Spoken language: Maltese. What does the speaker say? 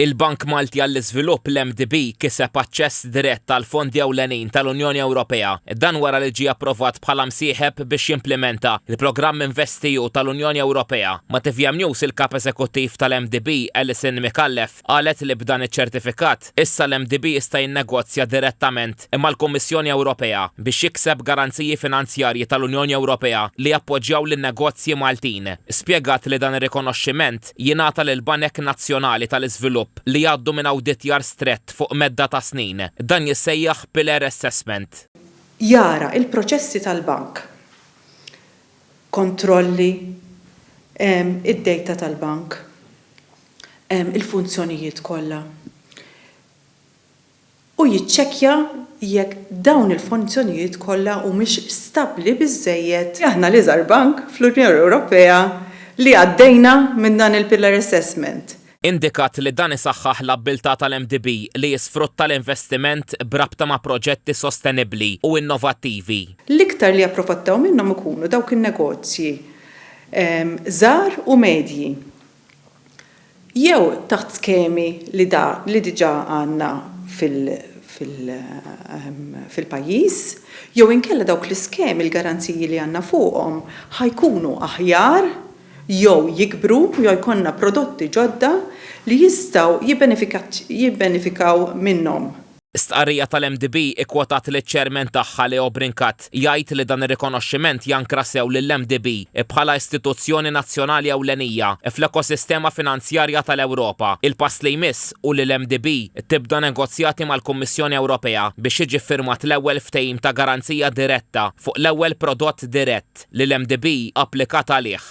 Il-Bank Malti għall-Iżvilupp, l-MDB, kiseb aċċess dirett għall-fondi ewlenin tal-Unjoni Ewropea. Dan wara li ġie approvat bħala msieħeb biex jimplimenta l-programm InvestEU tal-Unjoni Ewropea. Ma' tvm News il-Kap Eżekuttiv tal-MDB, Alison Micallef, qalet li b'dan iċ-ċertifikat, issa l-MDB jista' jinnegozja direttament mal-Kummissjoni Ewropea biex jikseb garanziji finanzjarji tal-Unjoni Ewropea li jappoġġjaw lin-negozji Maltin. Spjegat li dan ir-rikonoxximent, jingħata lill-banek nazzjonali tal-iżvilupp li jgħaddu minn awditjar strett fuq medda ta' snin. Dan jissejjaħ pillar assessment. Jara l-proċessi tal-bank, kontrolli, id-dejta tal-bank, il-funzjonijiet kollha. u jiċċekkja jekk dawn il-funzjonijiet kollha humiex stabbli biżżejjed. Aħna l-iżgħar bank fl-Unjoni Ewropea li għaddejna minn dan il-pillar assessment. Indikat li dan isaħħaħ l-abbiltà tal-MDB li jisfrutta l-investiment b'rabta ma' proġetti sostenibbli u innovattivi. L-iktar li japprofattaw minnhom ikunu dawk in-negozji żgħar u medji. jew taħt skemi li diġà għandna fil-pajjiż, jew inkella dawk l-iskemi l-garanziji li għandna fuqhom ħa jkunu aħjar jew jikbru jew jkollna prodotti ġodda li jistgħu jibbenefikaw minnhom. Stqarrija tal-MDB ikkwotat liċ-Chairman tagħha Leo Brincat jgħid li dan ir-rikonoxximent jankra sew lill-MDB bħala istituzzjoni nazzjonali ewlenija fl-ekosistema finanzjarja tal-Ewropa. Il-pass li jmiss hu li l-MDB tibda negozjati mal-Kummissjoni Ewropea biex jiġi ffirmat l-ewwel ftehim ta' garanzija diretta fuq l-ewwel prodott dirett li l-MDB applikat għalih.